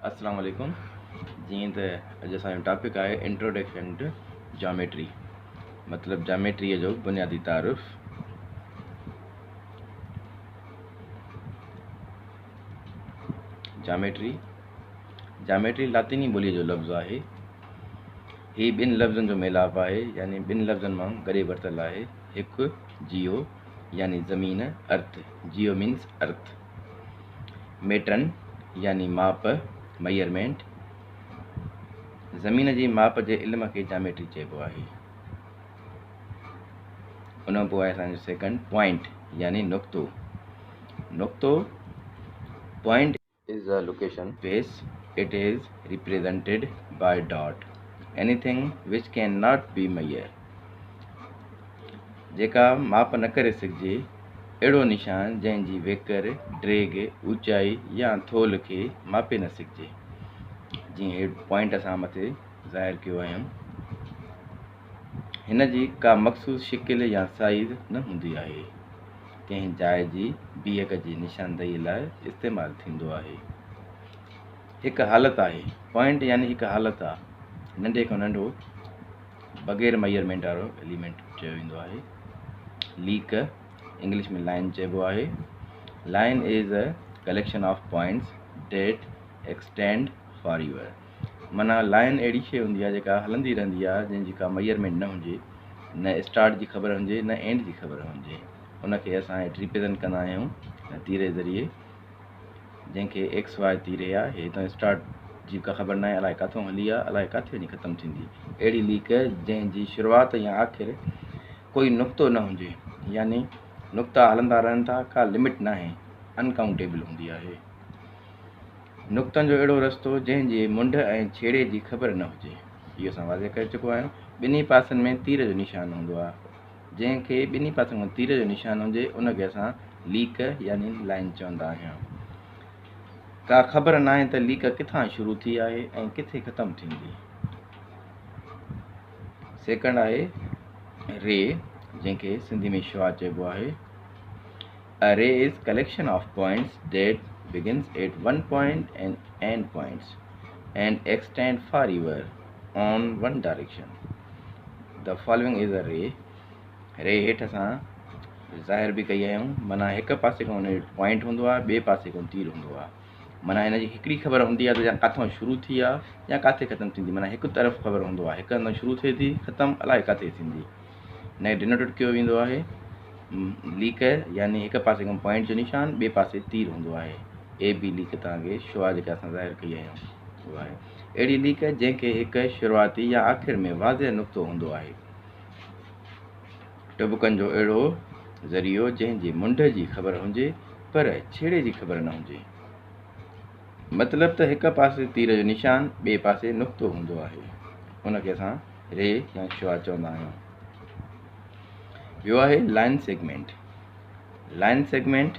السلام عليڪم جيئن ته اڄ اسان جو ٽاپڪ آهي انٽروڊڪشن ٽو جاميٽري مطلب جاميٽري جو بنيادي تعارف جاميٽري جاميٽري لاطيني ٻوليء جو لفظ آهي هي ٻن لفظن جو ميلاپ آهي يعني ٻن لفظن مان گڏي ورتل آهي هڪ جيو يعني زمين ارٿ جيو مينس ارٿ ميٽرن يعني ماپ، Measurement، زمين جي ماپ جي علم کي جاميٽري چئبو آهي. ان کان پوء آهي اسان جو سيڪنڊ پوائنٽ يعني نقطو. نقطو point is a location place it is represented by dot anything which can not be measure جيڪا ماپ نه ڪري سگهجي اهڙو نشان جنهن جي ويڪر، ڊيگهه، اوچائي يا ٿولهه کي ماپي نه سگهجي. جيئن هي پوائنٽ اسان مٿي ظاهر ڪيو آهن. هن جي ڪا مخصوص شڪل يا سائيز نه هوندي آهي. ڪنهن جاء جي بيهڪ جي نشاندهيء لاء استعمال ٿيندو آهي. هڪ حالت آهي، پوائنٽ يعني هڪ حالت آ، ننڍي کان ننڍو، بغير ميئرمينٽ وارو ايليمينٽ چيو ويندو آهي. ليڪ، انگلش ۾ لائن چئبو آهي. Line is a collection of points that extend forever معنيٰ لائن اهڙي شيء هوندي آهي جيڪا هلندي رهندي آهي جنهن جي ڪا ميئرمينٽ نه هجي نه اسٽارٽ جي خبر هجي نه اينڊ جي خبر هجي ان کي اسان هيٺ ريپريزنٽ ڪندا آهيون تيري ذريعي جنهن کي ايڪس واء تيري آ هي تون اسٽارٽ جي ڪا خبر ناهي الائي ڪاٿون هلي آ الائي ڪاٿي وڃي ختم ٿيندي اهڙي ليڪ جنهن جي شروعات يا آخر ڪوئي نقطو نه هجي يعني نقطا هلندا رهن ٿا ڪا لمٽ ناهي انڪاؤنٽيبل هوندي آهي نقطن جو اهڙو رستو جنهن جي منڊ ۽ ڇيڙي جي خبر نه هجي اهو اسان واضح ڪري چڪو آهيون ٻنهي پاسن ۾ تير جو نشان هوندو آهي جنهن کي ٻنهي پاسن کان تير جو نشان هجي ان کي اسان ليڪ يعني لائن چوندا آهيون ڪا خبر ناهي ته ليڪ ڪٿان شروع ٿي آهي ۽ ڪٿي ختم ٿيندي سيڪنڊ آهي ري جنهن کي سنڌي ۾ شعاع چئبو آهي A ray is collection of points that begins at one point and end points and extend far ever. on one direction the following is a ray ري هيٺ اسان ظاهر به ڪئي آهيون مانا هڪ پاسي کان هن پوائنٽ هوندو آهي ٻئي پاسي کان تير هوندو آهي مانا هن جي هڪڙي خبر هوندي آهي ته يا ڪٿان شروع ٿي آ يا ڪاٿي ختم ٿيندي مانا هڪ طرف خبر هوندو آهي هڪ هنڌ شروع ٿئي ٿي ختم الاء ڪاٿي ٿيندي هن کي ڊينوٽيڊ ڪيو ويندو آهي ليڪ يعني هڪ پاسي کان پوائنٽ جو نشان ٻئي پاسي تير هوندو آهي اي بي ليڪ تان کي شو آهي جيڪا اسان ظاهر ڪئي آهي اهڙي ليڪ جنهن کي هڪ شروعاتي يا آخر ۾ واضح نقطو هوندو آهي. ٽبڪن جو اهڙو ذريعو جنهن جي منڍ جي خبر هجي پر ڇيڙي جي خبر نه هجي. مطلب ته هڪ پاسي تير جو نشان ٻئي پاسي نقطو هوندو آهي. ان کي اسان ري يا شعاع چوندا آهيون. ٻيو آهي لائن سيگمينٽ. لائن سيگمينٽ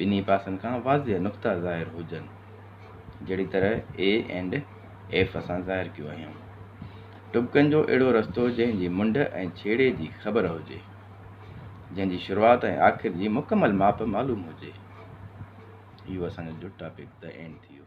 ٻنهي پاسن کان واضح نقطا ظاهر هجن، جهڙي طرح اي اينڊ ايف اسان ظاهر ڪيو اهيون. ٽٻڪن جو اهڙو رستو جنهن جي منڍ ۽ ڇيڙي جي خبر هجي، جنهن جي شروعات ۽ آخر جي مڪمل ماپ معلوم هجي. اهو اسان جو جوٽ ٽاپڪ The End ٿي ويو.